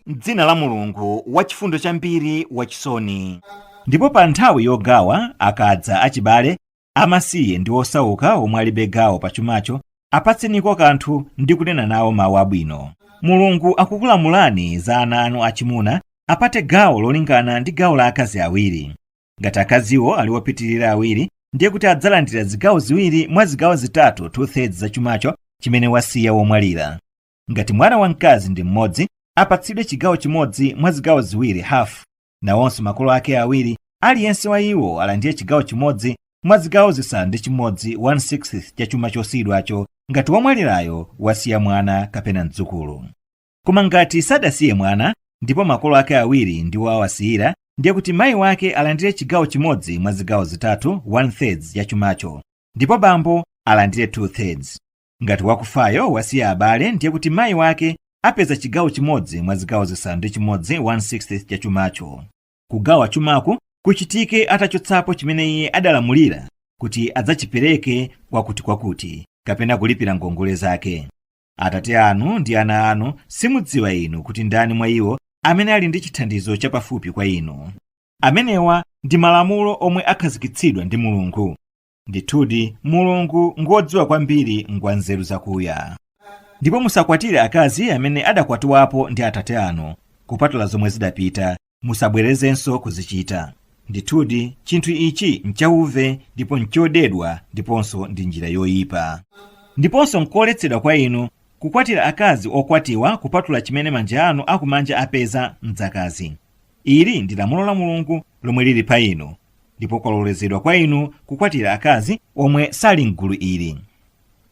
M'dzina la Mulungu, Wachifundo chambiri, Wachisoni. Ndipo pa nthawi yogawa, akadza achibale, amasiye ndi osauka omwe alibe gawo pa chumacho, apatseniko kanthu ndi kunena nawo mawu abwino. Mulungu akukulamulani za ana anu achimuna apate gawo lolingana ndi gawo la akazi awiri. Ngati akaziwo ali opitirira awiri, ndiye kuti adzalandira zigawo ziwiri mwa zigawo zitatu, 2 thirds, za chumacho chimene wasiya womwalira. Ngati mwana wamkazi ndi mmodzi, apatsidwe chigawo chimodzi mwa zigawo ziwiri, hafu. Nawonso makolo ake awiri, aliyense wa iwo alandire chigawo chimodzi mwa zigawo zisanu ndi chimodzi 1/6 cha chuma chosiyidwacho ngati womwalirayo wasiya mwana kapena mdzukulu. Koma ngati sadasiye mwana, ndipo makolo ake awiri ndiwo awasiyira, ndiye kuti mayi wake alandire chigawo chimodzi mwa zigawo zitatu 1/3 cha chumacho, ndipo bambo alandire 2/3. Ngati wakufayo wasiya abale, ndiye kuti mayi wake apeza chigawo chimodzi mwa zigawo zisanu ndi chimodzi 1/6 cha chumacho. Kugawa chumaku kuchitike atachotsapo chimene iye adalamulira kuti adzachipereke kwakutikwakuti kapena kulipira ngongole zake. Atate anu ndi ana anu simudziwa inu kuti ndani mwa iwo amene ali ndi chithandizo chapafupi kwa inu. Amenewa ndi malamulo omwe akhazikitsidwa ndi Mulungu. ndithudi mulungu ngodziwa kwambiri ngwa nzeru zakuya ndipo musakwatire akazi amene adakwatiwapo ndi atate anu kupatula zomwe zidapita musabwerezenso kuzichita ndithudi chinthu ichi nchauve ndipo nchodedwa ndiponso ndi njira yoyipa ndiponso nkoletsedwa kwa inu kukwatira akazi okwatiwa kupatula chimene manja anu akumanja apeza mdzakazi ili ndi lamulo la mulungu lomwe lili pa inu ndipo kwalolezedwa kwa inu kukwatira akazi omwe sali m'gulu ili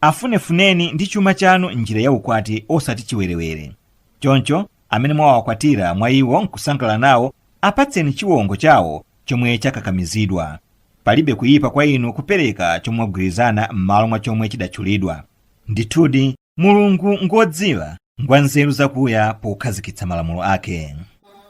afunefuneni ndi chuma chanu m'njira ya ukwati osati chiwerewere choncho amene mwawakwatira mwa iwo nkusangalala nawo apatseni chiwongo chawo chomwe chakakamizidwa palibe kuyipa kwa inu kupereka chomwe mwagwirizana m'malo mwa chomwe chidatchulidwa ndithudi Mulungu ngwodziwa, ngwanzeru zakuya pokhazikitsa malamulo ake.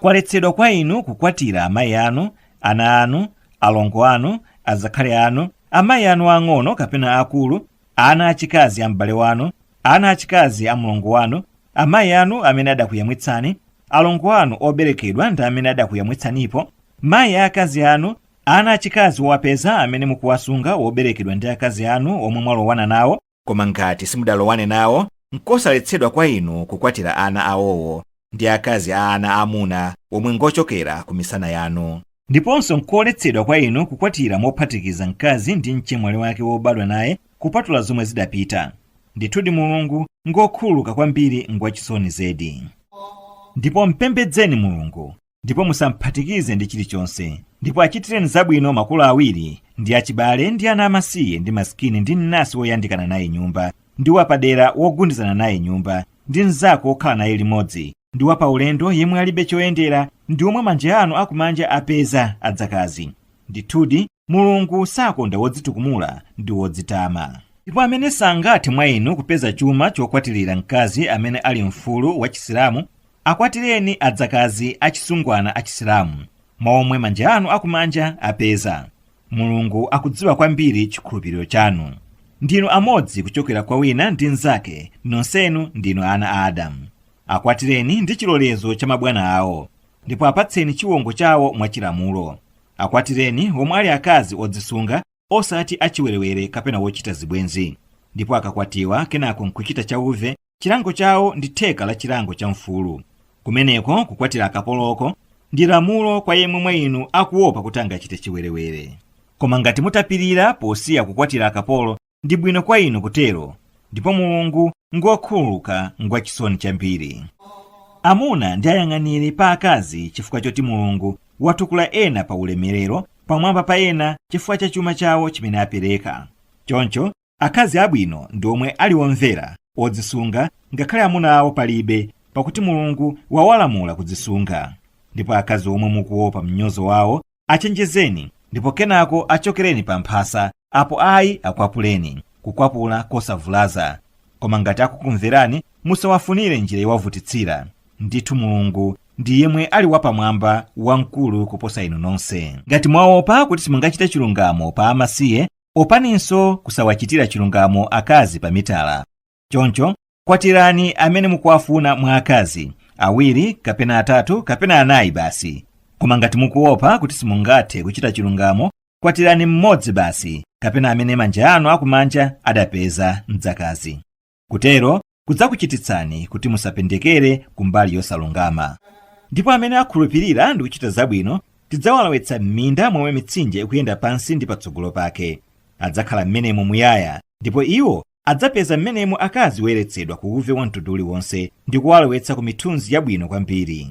Kwaletsedwa kwa inu kukwatira amayi anu, ana anu, alongo anu, azakhali anu, amayi anu aang'ono kapena aakulu, ana achikazi a m'bale wanu, ana achikazi a mlongo wanu, amayi anu amene adakuyamwitsani, alongo anu oberekedwa ndi amene adakuyamwitsanipo, mayi a akazi anu, ana achikazi owapeza amene mukuwasunga oberekedwa ndi akazi anu omwe mwalowana nawo, Koma ngati simudalowane nawo, nkosaletsedwa kwa inu kukwatira ana awowo, ndi akazi a ana aamuna omwe ngochokera ku misana yanu. Ndiponso nkoletsedwa kwa inu kukwatira mophatikiza mkazi ndi mchemwali wake wobadwa naye, kupatula zomwe zidapita. Ndithudi Mulungu ngokhululuka kwambiri, Ngwachisoni zedi. Ndipo mpembedzeni Mulungu, ndipo musamphatikize ndi chilichonse ndipo achitireni zabwino makolo awiri ndi achibale ndi ana amasiye ndi masikini ndi mnansi woyandikana naye nyumba ndi wapadera wogundizana naye nyumba ndi mnzako wokhala naye limodzi ndi wapaulendo yemwe alibe choyendera ndi omwe manja anu akumanja apeza adzakazi ndithudi mulungu sakonda wodzitukumula ndi wodzitama ndipo amene sangathe mwa inu kupeza chuma chokwatirira mkazi amene ali mfulu wa chisilamu Akwatireni adzakazi achisungwana achisilamu mwa omwe manja anu akumanja apeza. Mulungu akudziwa kwambiri chikhulupiriro chanu. Ndinu amodzi kuchokera kwa wina ndi mnzake, nonsenu ndinu ana a Adamu. Akwatireni ndi chilolezo cha mabwana awo, ndipo apatseni chiwongo chawo mwachilamulo. Akwatireni omwe ali akazi odzisunga osati achiwerewere kapena wochita zibwenzi ndipo akakwatiwa kenako nkuchita chauve chilango chawo ndi theka la chilango cha mfulu kumeneko kukwatira akapoloko ndi lamulo kwa yemwe mwa inu akuopa kuti angachite chiwerewere koma ngati mutapirira posiya kukwatira akapolo ndi bwino kwa inu kutero ndipo mulungu ngokhululuka ngwachisoni chambiri amuna ndi ayang'aniri pa akazi chifukwa choti mulungu watukula ena pa ulemerero pamwamba pa ena chifukwa cha chuma chawo chimene apereka choncho akazi abwino ndi omwe ali omvera odzisunga ngakhale amuna awo palibe pakuti mulungu wawalamula kudzisunga ndipo akazi omwe mukuopa mnyozo wawo achenjezeni ndipo kenako achokereni pa mphasa apo ayi akwapuleni kukwapula kosavulaza koma ngati akukumverani musawafunire njira yowavutitsira ndithu mulungu ndi yemwe ali wapamwamba wamkulu kuposa inu nonse ngati mwaopa kuti simungachite chilungamo pa amasiye opaninso kusawachitira chilungamo akazi pa mitala choncho kwatirani amene mukuwafuna mwa akazi awiri kapena atatu kapena anayi basi koma ngati mukuopa kuti simungathe kuchita chilungamo kwatirani mmodzi basi kapena amene manja anu akumanja adapeza mdzakazi kutero kudzakuchititsani kuti musapendekere ku mbali yosalungama ndipo amene akhulupirira ndi kuchita zabwino tidzawalowetsa m'minda momwe mitsinje ikuyenda pansi ndi patsogolo pake adzakhala m'menemo muyaya ndipo iwo adzapeza m'menemo akazi woyeretsedwa ku uve wa mtundu uliwonse ndi kuwalowetsa ku mithunzi yabwino kwambiri